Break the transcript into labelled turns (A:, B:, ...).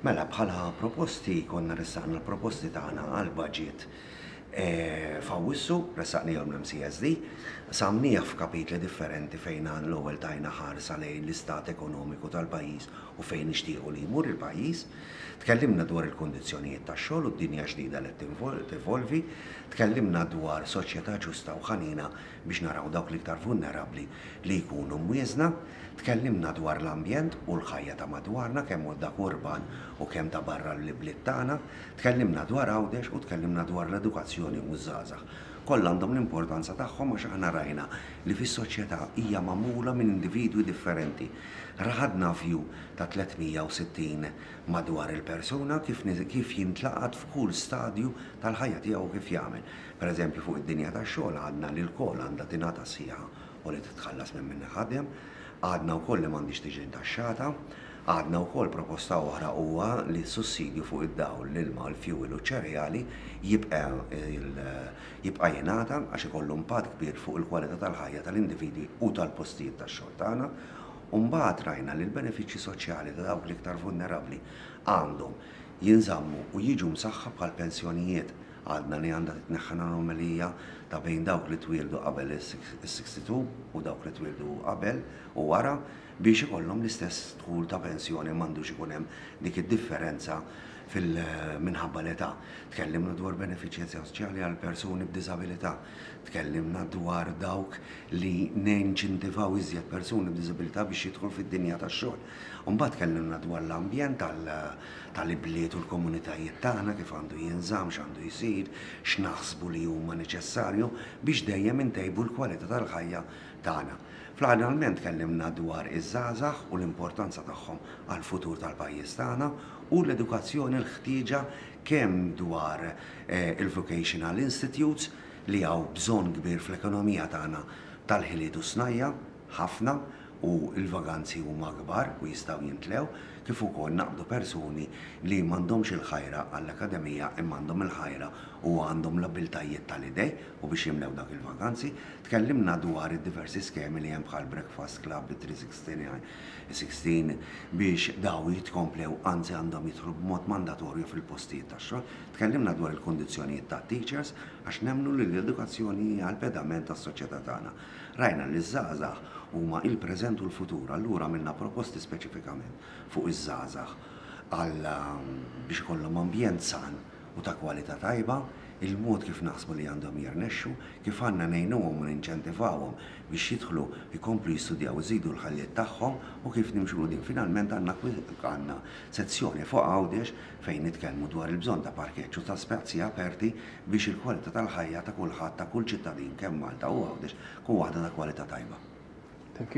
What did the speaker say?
A: Mela, bħala proposti konna ressaqna l-proposti tagħna għall-budget f'Awwissu, ressaqnihom l-MCSD, qsamnieh f'kapitli differenti fejn għall-ewwel tajna ħarsa lejn l-istat ekonomiku tal-pajjiż u fejn nixtiequ li jmur il-pajjiż. Tkellimna dwar il-kundizzjonijiet tax-xogħol u d-dinja ġdida li qed tevolvi. Tkellimna dwar soċjetà ġusta u ħanina biex naraw dawk l-iktar vulnerabbli li jkunu mwieżna, tkellimna dwar l-ambjent u l-ħajja ta' madwarna kemm hu dak urban u kemm ta' barra l-ibliet tagħna, tkellimna dwar Għawdex u tkellimna dwar l-edukazzjoni u ż-żgħażagħ. Kollha għandhom l-importanza tagħhom għax aħna rajna li fis-soċjetà hija magħmula minn individwi differenti. Raħadna view ta' 360 madwar il-persuna kif kif jintlaqat f'kull stadju tal-ħajja tiegħu u kif jagħmel. Pereżempju, fuq id-dinja tax-xogħol għadna li lkoll għandha tingħata s-siegħa u li titħallas minn min iħaddem. Għadna wkoll li m'għandhiex tiġi ntaxxata. Għadna wkoll proposta oħra huwa li s-sussidju fuq id-dawl, l-ilma, il-fjuwil u ċ-ċereali jibqa' jibqa' jingħata għax ikollu impatt kbir fuq il-kwalità tal-ħajja tal-individwi u tal-postijiet tax-xogħol tagħna. U mbagħad rajna li l-benefiċċji soċjali ta' dawk l-iktar vulnerabbli għandhom jinżammu u jiġu msaħħa bħall-pensjonijiet. Għadna li għandha titneħħa l-anomalija ta' bejn dawk li twieldu qabel is-62 u dawk li twieldu qabel u wara biex ikollhom l-istess dħul ta' pensjoni ma għandux ikun hemm dik id-differenza fil minħabba l-età. Tkellimna dwar benefiċċji soċjali għal persuni b'diżabilità. Tkellimna dwar dawk li ninċintivaw iżjed persuni b'diżabilità biex jidħlu fid-dinja tax-xogħol. U mbagħad tkellimna dwar l-ambjent tal-ibliet u l-komunitajiet tagħna, kif għandu jinżamm, x'għandu jsir, x'naħsbu li huma neċessarju biex dejjem intejbu l-kwalità tal-ħajja tagħna. Fl-aħħarnalment tkellimna dwar iż-żgħażagħ u l-importanza tagħhom għall-futur tal-pajjiż tagħna u l-edukazzjoni l-ħtieġa kemm dwar il-vocational institutes li hawn bżonn kbir fl-ekonomija tagħna tal-ħiliet u s-snajja'. ħafna u l-vaganzi huma kbar u jistgħu jimtlew, kif ukoll naqdu persuni li m'għandhomx il-ħajra għall-Akkademija imma għandhom il-ħajra u għandhom l-abbiltajiet tal-idej u biex jimlew dak il-vaganzi. Tkellimna dwar id-diversi skemi li hemm bħal Breakfast Club, it 360 biex daw jitkomplew anzi għandhom jidħlu b'mod mandatorju fil-postijiet tax-xogħol. Tkellimna dwar il-kundizzjonijiet tat-teachers għax nemmnu li l-edukazzjoni hija l-pedament tas-soċjetà tagħna. Rajna li ż-żgħażagħ huma il-preżent u l-futur, allura għamilna proposti speċifikament fuq iż-żgħażagħ għal biex ikollhom ambjent san u ta' kwalità tajba, il-mod kif naħsbu li għandhom jirnexxu, kif għandna ngħinuhom u ninċentivawhom biex jidħlu jkomplu jistudjaw iżidu l-ħajjiet tagħhom u kif nimxu 'l quddiem. Finalment għandna għandna sezzjoni fuq Għawdex fejn nitkellmu dwar il-bżonn ta' parkeġġ u ta' spazji aperti biex il-kwalità tal-ħajja ta' kulħadd, ta' kull ċittadin kemm Malta u Għawdex tkun waħda ta' kwalità tajba.